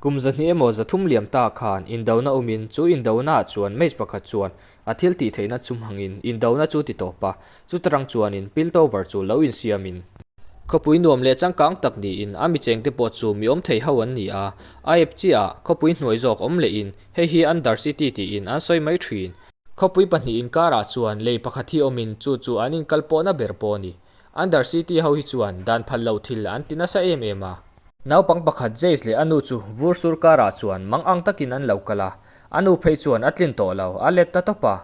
Kum zahnih emaw zathum liam ta khan indona awmin chu indonaah chuan match pakhat chuan a thil tih theihna chumhangin indona chu ti tawp a, chuta rang chuanin Piltover chu lo insiamin. Khawpui nuam leh changkang tak niin a mi chengte pawh chu mi awm thei ho an ni a, a ep chiah a, khawpui hnuai zawk awm lehin hei hi Undercity tiin an sawi mai thin. Khawpui pahnih inkarah chuan lei pakhat hi awmin chu chu an inkal pawh na ber pawh a ni. Under City ho hi chuan dan phal lo thil an ti nasa em em a. Naupang pakhat Jace leh a nu chu vur sur karah chuan mang ang takin an lo kal a, a nu phei chuan a tlin tawh lo, a let ta tawp a.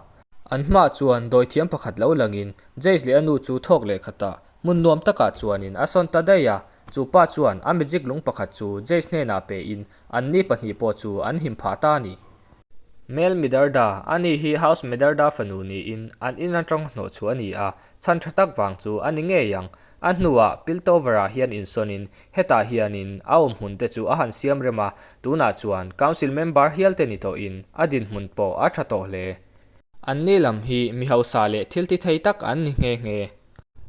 An hmaah chuan dawi thiam pakhat lo langin Jace leh a nu chu thawk leh khat a, hmun nuam takah chuanin a sawn ta daih a. Chu pa chuan a magic lung pakhat chu Jace hnenah pehin anni pahnih pawh chu an him phah ta a ni. Mel Midarda, a ni hi House Midarda fanu niin an in atang hnawh chhuah a ni a, chhan tha tak vang chu a ni ngei ang. A hnuah Piltover-ah hian insawnin hetah hianin a awm hmun te chu a han siam rem a, tunah chuan Council Member hialte ni tawhin a dinhmun pawh a tha tawh hle. Anni lam hi mi hausa leh thiltithei tak an ni nghe nghe.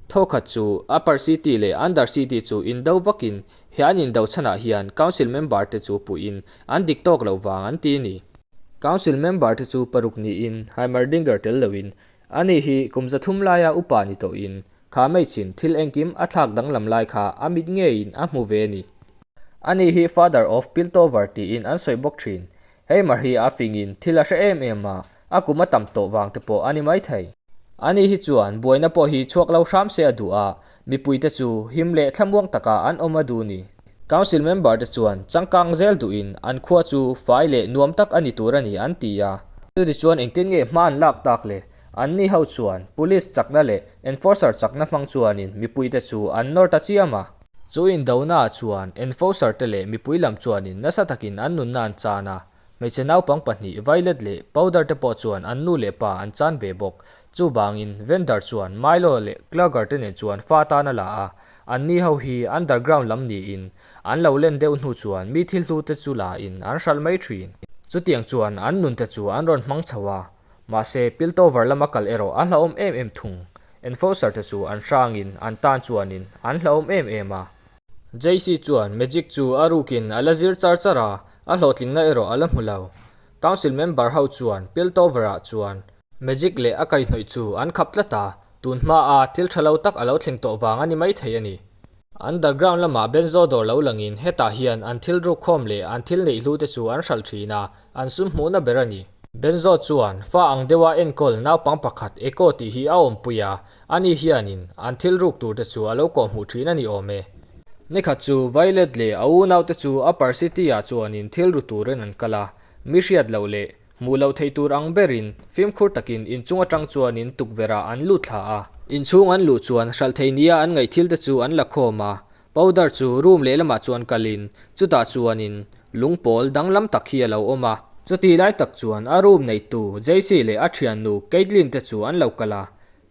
Thawkhat chu, Upper City leh Under City chu indo vakin he an indo chhanah hian Council member te chu puihin an dik tawk loh vang an ti ni. Council member te chu paruk niin Heimerdinger tel loin, Ani hi kum za thum laia upa ni tawhin, kha mai chin, thil engkim a thlak danglam lai kha a mit ngeiin a hmu ve ni. Ani hi Father of Piltover tiin an sawi bawk thin. Hei Maria a fingin thil a hre em em a, a kum a tam tawh vang te pawh a ni maithei. Anih hi chuan buaina pawh hi chhuak lo hram se a duh a, mipuite chu him leh thlamuang takah an awm a duh ni. Council member te chuan changkang zel duhin an khua chu fai leh nuam tak a ni tur a ni an ti a. Chutichuan engtin nge hma an lak tak leh An ni ho chuan Police chakna leh Enforcer chakna hmang chuanin mipui te chu an nawr ta chiam a. Chu indohna ah chuan Enforcer te leh mipui lam chuanin nasa takin an nunna an chan a. Hmeichhe naupang pahnih Violet leh Powder te pawh chuan an nu leh pa an chan ve bawk. Chuvangin Vendor chuan Milo leh Clugger te nen chuan fa tan a la a. An ni ho hi Underground lam niin an lo len deuh hnu chuan mi thil hlu te chu lain an hralh mai thin. Chutiang chuan an nun te chu an rawn hmang chho a. Mahse, Piltover lama kal erawh a hlauhawm em em thung. Enforcer te chu an hrangin an tan chuanin an hlauhawm em em a. JC chuan Magic chu a rukin a la zir char char a, a hlawhtlinna erawh a la hmu lo. Council member ho chuan Piltover ah chuan Magic leh a kaihnawih chu an khap tlat a, tun hmaa thil tha lo tak a lo thleng tawh vang a ni maithei a ni. Underground lama benzo dawr lo langin hetah hian an thil rukkhawm leh an thil neih hlu te chu an hralh thin a, an sum hmuhna ber a ni. Benzo chuan fa ang deuha enkawl naupang pakhat Echo tih hi a awmpui a, ani hianin an thil ruk tur te chu a lo kawh hmuh thin a ni awm e. Ni khat chu Violet leh a unaute chu Upper City-ah chuanin thil ru turin an kal a, mi hriat loh leh Hmuh loh theih tur ang berin fimkhur takin inchung atang chuanin tukverha an lut thla a. Inchhung an luh chuan hralh thei nia an ngaih thil te chu an la khawm a. Powder chu room lehlamah chuan kalin chutah chuanin lung pawl danglam tak hi a lo awm a. Chutih lai tak chuan a room neitu Jaycee leh a thiannu Kaitlyn te chu an lo kal a.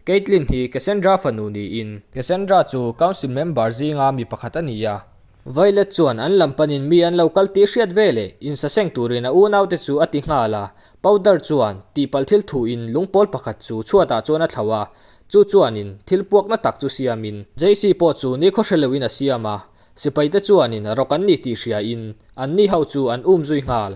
Kaitlyn hi Cassandra fanu niin. Cassandra chu Council member zinga mi pakhat a ni a. Violet chuan an lam panin mi an lo kal tih hriat ve le, insaseng turin a unau te chu a ti nghal a. Powder chuan tihpalh thil thu in lung pawl pakhat chu chhuat ah chuan a thlau a, chu chuan in thil puak na tak chu siam in. Jaycee pawh chu ni khaw hre lo in a siam a, sipai te chuan in rok an ni tih hria in an ni ho chu an um zui nghal.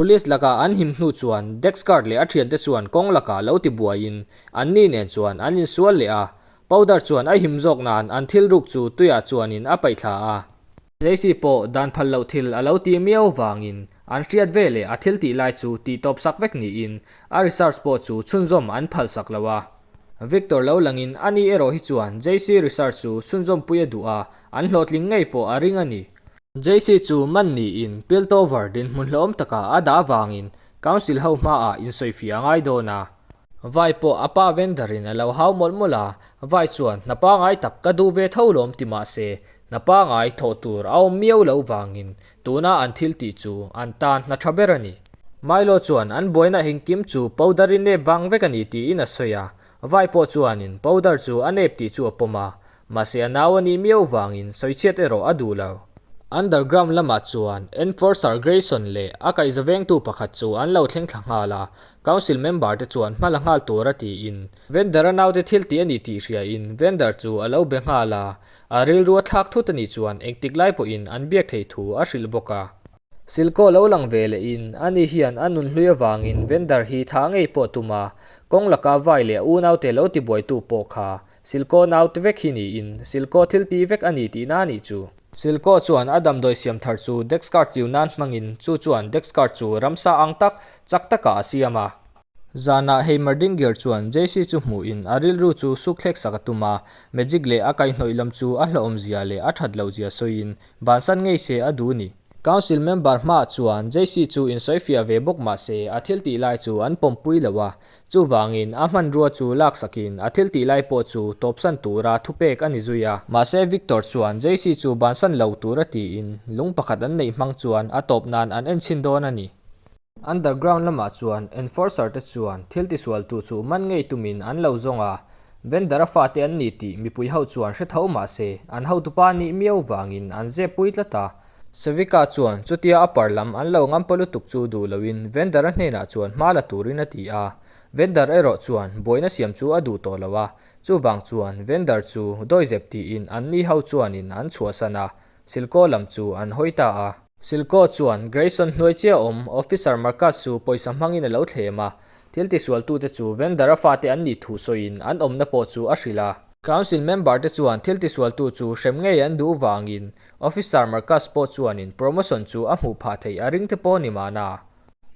Police lakah an him hnu chuan Dex guard leh a thiante chuan kawng lakah lo ti buaiin an ni nen chuan an insual leh a. Powder chuan a him zawk nan an thil ruk chu tuiah chuanin a paih thla a. Jaycee pawh dan phal loh thil a lo ti miau vangin an hriat ve leh a thil tih lai chu ti tawp sak vek niin a research pawh chu chhunzawm an phal sak lo a. Victor lo langin a ni erawh hi chuan Jaycee research chu chhunzawmpuia duh a, an hlawhtling ngei pawh a ring a ni. JC chu man niin Piltover dinhmun hlawm taka a dah vangin Council ho hmaah insawifiah a ngai dawn a. Vai pawh a pa Vendor-in a lo hau mawlh mawlh a, Vai chuan hna pangai tak ka duh ve tho lawm ti mah se, hna pangai thawh tur a awm miau lo vangin tuna an thil tih chu an tan hna tha ber a ni. Milo chuan an buaina engkim chu Powder-i nep vang vek a ni tiin a sawi a, Vai pawh chuanin Powder chu a nep tih chu a pawm a, Mahse a nau a nih miau vangin sawichhiat erawh a duh lo. Underground lamah chuan enforcer Grayson leh a kaihzavengtu pakhat chu an lo thlengthla nghal a, council member te chuan hma la nghal tur a tiin vendor a naute thil tih a ni tih hriain vendor chu a lo be nghal a, a rilrua thlak thut a nih chuan engtik lai pawhin an biak theih thu a hrilh bawk a. Silkaw lo lang ve lehin a ni hian a nun hlui avangin vendor hi tha ngei pawh tum a, kawng laka vai leh a unaute lo ti buaitu pawh kha Silkaw naute vek hi niin, Silkaw thilti vek a ni tih na nih chu. Silkaw chuan a damdawi siam thar chu Dexkart chiu nan hmangin, chu chuan Dexkart chu ramsa ang tak, chak takah a siam a. Zanah Heimerdinger chuan JC chu hmuhin a rilru chu sukthleksak a tum a, magic leh a kaihnawih lam chu a hlauhawm zia leh a that loh zia sawiin, bansan ngei se a duh ni. Council member hma chuan JC chu insawi fiah ve bawk mahse, a thiltih lai chu an pawmpui lo a, Chuvangin, a hmanrua chu laksakin a thiltih lai pawh chu tawpsan tura thupek a ni zui a. Mahse, Victor chuan Jaycee chu bansan lo tur a tiin lung pakhat an neih hmang chuan a tawp nan an en chhin dawn a ni. Underground lamah chuan enforcer te chuan thiltisualtu chu man ngei tumin an lo zawng a, vendor-a fate an ni tih mipui ho chuan hre tho mahse, an hotupa nih miau vangin an zep pui tlat a, Savika chuan chutia a par lam an lo ngam pawh lutuk chu duh loin Vendor-a hnenah chuan hma la turin a ti a. Vendor erawh chuan buaina siam chu a duh tawh lo a, chuvang chuan Vendor chu dawihzep tiin an ni ho chuanin an chhuahsan a, Silko lam chu an hawi ta a. Silko chuan Grayson hnuai chiah awm Officer Marcus chu pawisa hmangin a lo thlem a, thil tisualtute chu Vendor-a fate an nih thu sawiin an awmna pawh chu a hrilh a. Council member-te chuan thil tisualtu chu hrem ngei an duh vangin Officer Marcus pawh chuanin promotion chu a hmuh phah theih a ring te pawh ni mahna,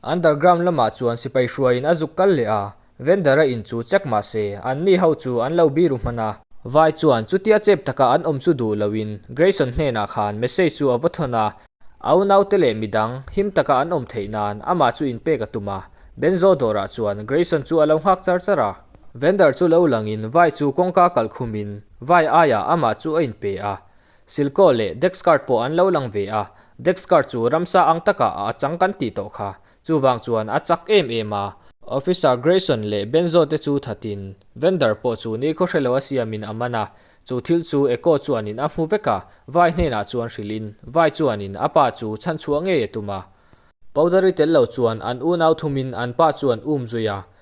underground lamah chuan sipai hruaiin a zuk kal leh a, vendor-a in chu check mah se, an ni ho chu an lo biru hman a. Vai chuan chutia chep taka an awm chu duh loin Grayson hnenah khan message chu a va thawn a, au naute leh midang him taka an awm theih nan amah chu in pek a tum a, Benzo dawrah chuan Grayson chu a lo nghak char char a. Vendor chu lo langin vai chu kawngka kalh khumin vai aiah amah chu a in pe a, Silkaw leh Dexcart pawh an lo lang ve a, Dexcart chu ramsa ang takah a achang kan tih tawh kha, chuvang chuan a chak em em a. Officer Grayson leh Benzo te chu thatin Vendor pawh chu neikhawp hre lo a siamin a man a, chu thil chu Echo chuanin a hmu vek a, vai hnenah chuan hrilhin vai chuanin a pa chu chhanchhuah ngei a tum a, Powdery tel lo chuan an unau thumin an pa chuan um zui a,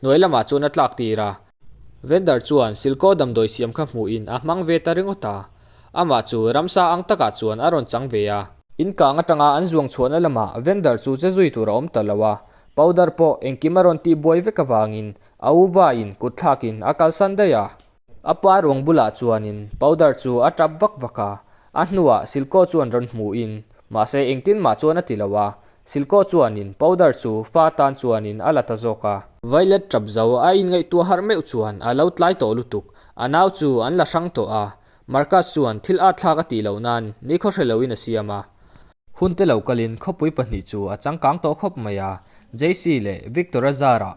Hnuai lamah chuan a tlak tir a. Vendor chuan silkaw damdawi siam kha hmuhin a hmang ve ta ringawt a, amah chu ramsa ang takah chuan a rawn chang ve a. Inkang atanga an zuang chhuahna lamah vendor chu che zui tur a awm ta lo a, powder pawh engkim a rawn tih buai vek avangin a uvain kutthlakin a kalsan daih a. A pa ruang bulah chuanin Powder chu a tap vak vak a, a hnuah Silko chuan rawn hmuhin, mahse engtin mah chuan a ti lo a, Silko chuanin Powder chu fa tan chuanin a la ta zawk a. Violet tap zo a inngaihtuah harh meuh chuan a lo tlai tawh lutuk, a nau chu an la hrang tawh a, Marcus chuan thil at thlak a tih loh nan ni khaw hre loin a siam a, hunte lo kalin khawpui pahnih chu a changkang tawh khawp mai a, Jaycee leh Victor-a zarah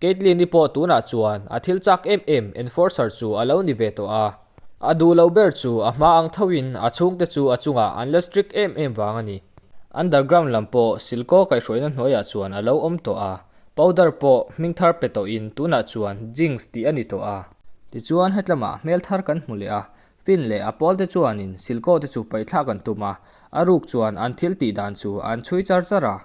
Kaitlyn-i pawh tunah chuan a thil chak em em Enforcer chu a lo ni ve tawh a, a duh loh ber chu a hma ang tho in a chhungte chu a chungah an la strict em em vang a ni. Underground lam pawh silkaw kaihhruaina hnuaiah chuan a lo awm tawh a, powder pawh hming thar pe tawh in tunah chuan jinx tih a ni tawh a. Tichuan hetlama hmel thar kan hmu leh a, Finn leh a pawlte chuanin silkawhte chu paihthlak an tum a, a ruk chuan an thil tih dan chu an chhui char char a.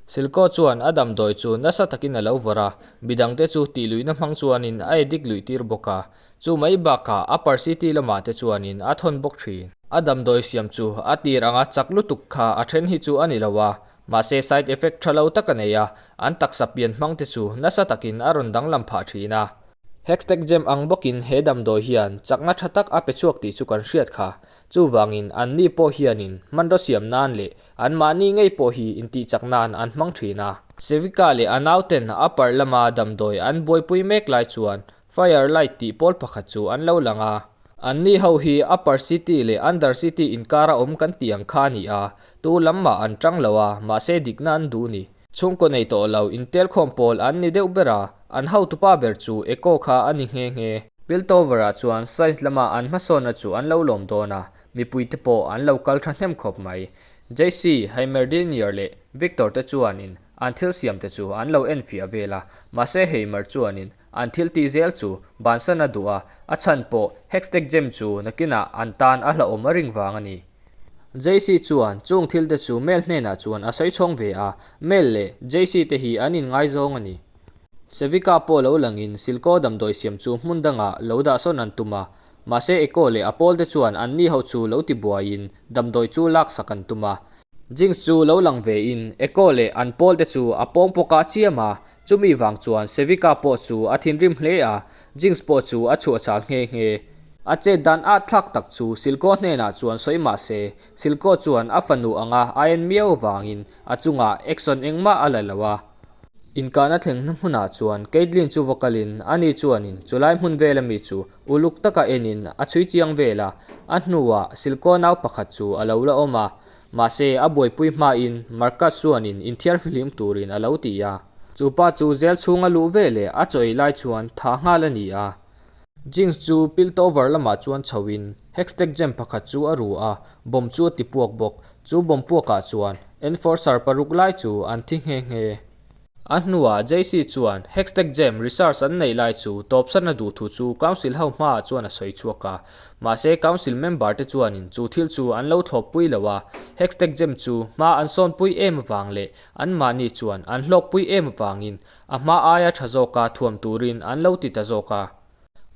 Silkawh chuan a damdawi chu nasa takin a lo vawr a, midangte chu tihluihna hmang chuanin a e dik luih tir bawk a, chu mai bakah a Parsiti lamah te chuanin a thawn bawk thin. A damdawi siam chu a tir anga chak lutuk kha a then hi chu a ni lo a, Mahse side effect tha lo tak a nei a, an taksa pian hmang te chu nasa takin a rawn danglam phah thin a. Hextech gem ang bawkin he damdawi hian chakna tha tak a pe chhuak tih chu kan hriat kha. Chuvangin anni pawh hianin hmanraw siam nan leh anmahni ngei pawh hi intihchak nan an hmang thin a. Sevika leh a nauten upper lama damdawi an buaipui mek lai chuan Fire Light tih pawl pakhat chu an lo lang a, an ni ho hi Upper City leh Under City inkar a awm kan tih ang kha a ni a, tu lam mah an ṭang lo a, mahse dikna an duh ni. Chhungkaw nei tawh lo intelkhawm pawl an ni deuh ber a, an hotupa ber chu Echo kha a ni nghe nghe. Piltover-ah chuan Science lama an hmasawnna chu an lo lawm dawn a, mipui te pawh an lo kal ṭha hnem khawp mai. JC, Heimerdinger leh Victor te chuanin an thil siam te chu an lo enfiah vel a, mahse Heimer chuanin An thiltih zel chu Bansana duh a, a chhan pawh Hextech Gem chu nakinah an tan a hlauhawm a ring vang a ni. JC chuan chung thil te chu Mel hnenah chuan a sawi chhawng ve a, Mel leh JC te hi an inngaizawng a ni. Sevika pawh lo langin silkaw damdawi siam chu hmun dangah lo dahsawn an tum a, mahse Echo leh a pawl te chuan an ni ho chu lo ti buaiin damdawi chu laksak an tum a. Jinx chu lo lang vein Echo leh an pawl te chu a pawng pawk a chiam a, Chumi vang chuan Sevika pawh chu a thinrim hle a, Jinx pawh chu a chhuahchhal nghe nghe. A chet dan ah thlak tak chu Silco hnenah chuan sawi mah se, Silco chuan a fanu anga a en miau vangin a chungah action engmah a la lo a. Inkahna a thleng na hmunah chuan Kaitlyn chu vocal in a ni chuanin chu lai hmun vel ami chu uluk taka enin a chhui chiang vel a, a hnuah Silco nau pakhat chu a lo la awm a, Mahse, a buaipui hmain Marcus chuanin inthiar fihlim turin a lo ti a, chu pa chu zêl chhung a luh ve leh a chawi lai chuan tha nghal a ni a. Jinx chu Piltover lamah chuan chhoin Hextech gem pakhat chu a ru a, bomb chu a ti puak bawk. Chu bomb puakah chuan Enforcer paruk lai chu an thi nghe nghe. A hnuah JC chuan Hextech Gem research an neih lai chu tawpsatna duh thu chu Council ho hmaah chuan a sawi chhuak a. Mahse Council member te chuanin chu thil chu an lo thlawp pui lo a, Hextech Gem chu hma an sawn pui em avang leh anmahni chuan an hlawk pui em avangin a hma aia tha zawka thuam turin an lo ti ta zawk a.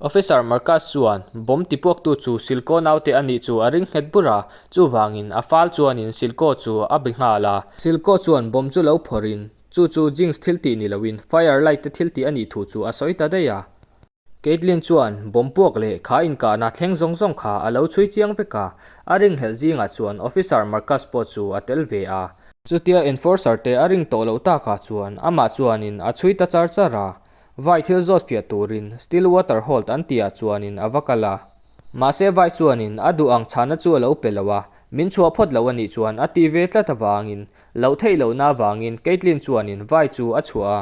Officer Marcus chuan, Bawm tipuaktu chu Silko naute a nih chu a ring nghet bur a, chuvangin a fal chuanin Silko chu a be nghal a. Silko chuan bawm chu lo phawrhin, Chu chu Jinx thil tih ni loin Fire Light te thil tih a nih thu chu a sawi ta daih a. Kaitlyn chuan bawm puak leh kha inkahna thleng zawng zawng kha a lo chhui chiang vek a, a ring hlelh zingah chuan Officer Marcus pawh chu a tel ve a. Chutia Enforcer te a ring tawh loh takah chuan amah chuanin a chhui ta char char a. Vai thil zawt fiah turin still water hold an tia chuanin a va kal a. Mahse vai chuanin a duh ang chhana chu a lo pe lo a, min chhuah phawt loh a nih chuan a ti ve tlat avangin loh theih lohna avangin Kaitlyn chuanin vai chu a chhuah a.